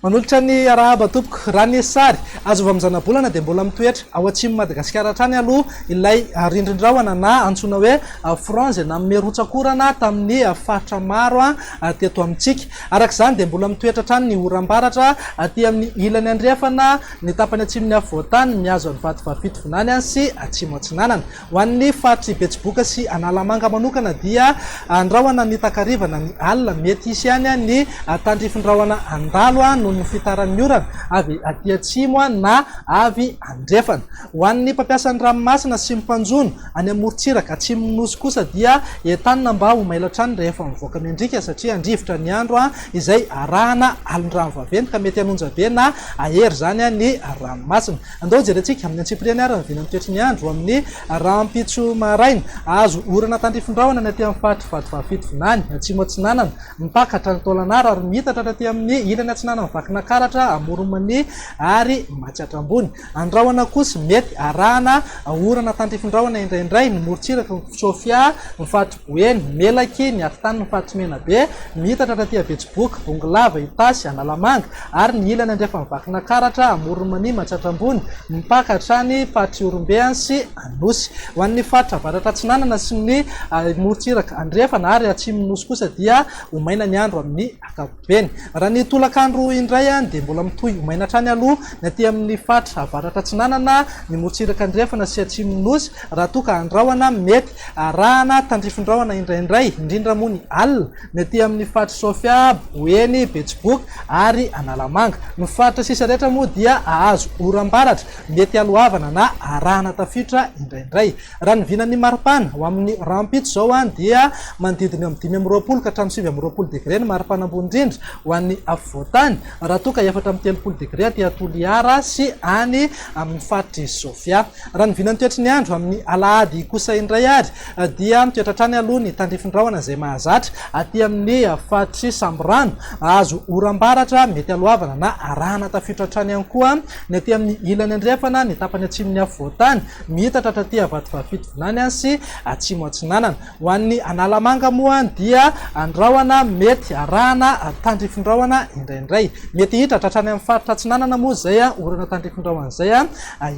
Manolotra ny arahaba tompoko. Raha ny sary azo avy amin'ny zanabolana dia mbola mitoetra ao atsimon'i Madagasikara hatrany aloha ilay rindrin-drahona na antsoina hoe frange na merotsak'orana tamin'ny faritra maro teto amintsika. Araka izany dia mbola mitoetra hatrany ny oram-baratra aty amin'ny ilany andrefana, ny tapany atsimon'ny afovoan-tany mihazo an'i Vatovavy-Fitovinany any sy Atsimo-Atsinanana. Ho an'ny faritr'i Betsiboka sy Analamanga manokana dia an-drahona mitakariva na ny alina. Mety hisy ihany ny tandrifin-drahona handalo noho ny fitaran'ny orana avy aty atsimo na avy andrefana. Ho an'ny mpampiasa ny ranomasina sy ny mpanjono any amorontsiraka atsimon'ny Nosy kosa dia entanina mba ho mailo hatrany rehefa mivoaka mendrika satria handrivotra ny andro izay arahana alin-drano vaventy ka mety hanonja be na hahery izany ny ranomasina. Andao jerentsika amin'ny antsipiriany ary ny vinan'ny toetry ny andro amin'ny rahampitso maraina. Hahazo orana tandrifin-drahona ny aty amin'ny faritry Vatovavy-fito vinany atsimo atsinanana mipaka hatrany Taolagnaro ary miitatra hatraty amin'ny ilany atsinanan'i Vakinakaratra, Amoron'i Mania ary Matsiatra Ambony. Any rahona kosa, mety arahana orana tandrifin-drahona indraindray ny morontsirak'i Sofia, ny Faritry Boeny, Melaky, ny Afotanin'ny Faritry Menabe, mihitatra taty Abetsiboka, Bongolava, Itasy, Analamanga, ary ny ilany andrefan'i Vakinakaratra, Amoron'i Mania, Matsiatramboina, mipaka hatrany Faritry Ihorombe sy Anosy. Ho an'ny Faritra Avaratra Atsinanana sy ny morontsiraka andrefana ary atsimon'ny Nosy kosa dia ho maina ny andro amin'ny ankapobeny. Eny, raha ny tolakandro indray dia mbola mitohy ho maina hatrany aloha ny aty amin'ny faritra avaratra atsinanana, ny morontsiraka andrefana sy atsimon'ny Nosy, raha toa ka an-drahona mety arahana tandrifin-drahona indraindray, indrindra moa ny alina, ny aty amin'ny faritr'i Sofia, Boeny, Betsiboka ary Analamanga. Ny faritra sisa rehetra moa dia hahazo oram-baratra, mety haloavana na arahana tafiotra indraindray. Raha ny vinan'ny maripana, ho amin'ny rahampitso izao dia manodidina eo amin'ny dimy amby roapolo ka hatramin'ny sivy amby roapolo degre ny maripana ambony indrindra ho an'ny afovoantany, raha toa ka efatra amby telopolo degre aty Toliara sy any amin'ny faritr'i Sofia. Raha ny vinan'ny toetry ny andro amin'ny alahady kosa indray ary dia mitoetra hatrany aloha ny tandrify ny rahona izay mahazatra aty amin'ny faritr'i Sambirano, hahazo oram-baratra mety haloavana na arahana tafiditra hatrany ihany koa ny aty amin'ny ilany andrefana ny tapany atsimon'ny afovoantany. Miitatra hatraty Avatovaravitovolany sy Atsimo Atsinanana. Ho an'ny Analamanga moa dia an-drahona mety arahana tandrifin-drahona indraindray. Mety hiitatra hatrany amin'ny faritra Atsinanana moa izay orana tandrifin-drahona izay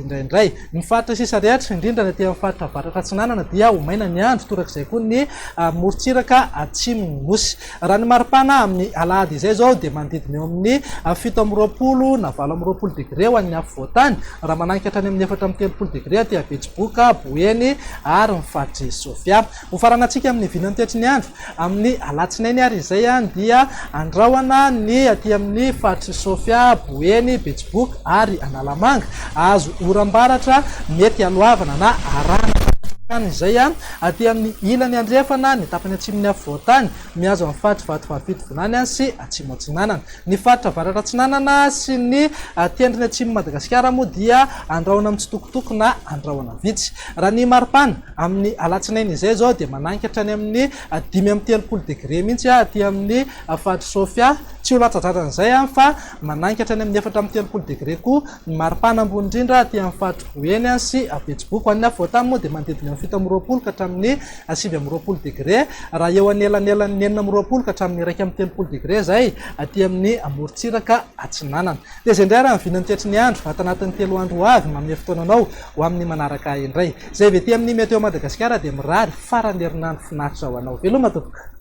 indraindray. Ny faritra sisa rehetra, indrindra ny aty amin'ny faritra Avaratra Atsinanana dia ho maina ny andro, torak'izay koa ny morontsiraka Atsimon'ny Nosy. Raha ny maripana amin'ny alahady izay izao dia manodidina eo amin'ny fito amby roapolo na valo amby roapolo degre ho an'ny afovoantany, raha mananika hatrany amin'ny efatra amby telopolo degre aty Betsiboka, Boeny ary ny faritr'i Sofia. Ho faranantsika amin'ny vinan'ny toetry ny andro amin'ny alatsinainy ary izay dia andrahona ny aty amin'ny faritr'i Sofia, Boeny, Betsiboka ary Analamanga azo oram-baratra mety haloavana na arahana izay. Aty amin'ny ilany andrefana, ny tapany atsimon'ny afovoan-tany, mihazo an'i faritry Vatovavy-Fitovinany sy Atsimo Atsinanana. Ny faritra Avaratra-Atsinanana sy ny tendrony atsimon'i Madagasikara moa dia andrahona mitsitokotoko na andrahona vitsy. Raha ny maripana, amin'ny alatsinainy izay izao dia mananika hatrany amin'ny dimy amby telopolo degre mihitsy aty amin'ny faritr'i Sofia. Tsy ho latsa-dradrana izay fa mananika hatrany amin'ny efatra amby telopolo degre koa Ny maripana ambony indrindra aty amin'ny faritra Boeny sy Betsiboka. Ny afovoantany moa dia manodidina ny fito amby roapolo ka hatramin'ny sivy amby roapolo degre, raha eo anelanelan'ny enina amby roapolo ka hatramin'ny iraika amby telopolo degre izay aty amin'ny morontsiraka atsinanana. Tezay indray raha ny vinany tetry ny andro, ato anatin'ny telo andro ho avy, manome fotoana anao ho amin'ny manaraka indray. Izay avy aty amin'ny Météo Madagasikara dia mirary faran'ny herinandro finaritra ho anao. Veloma tompoko.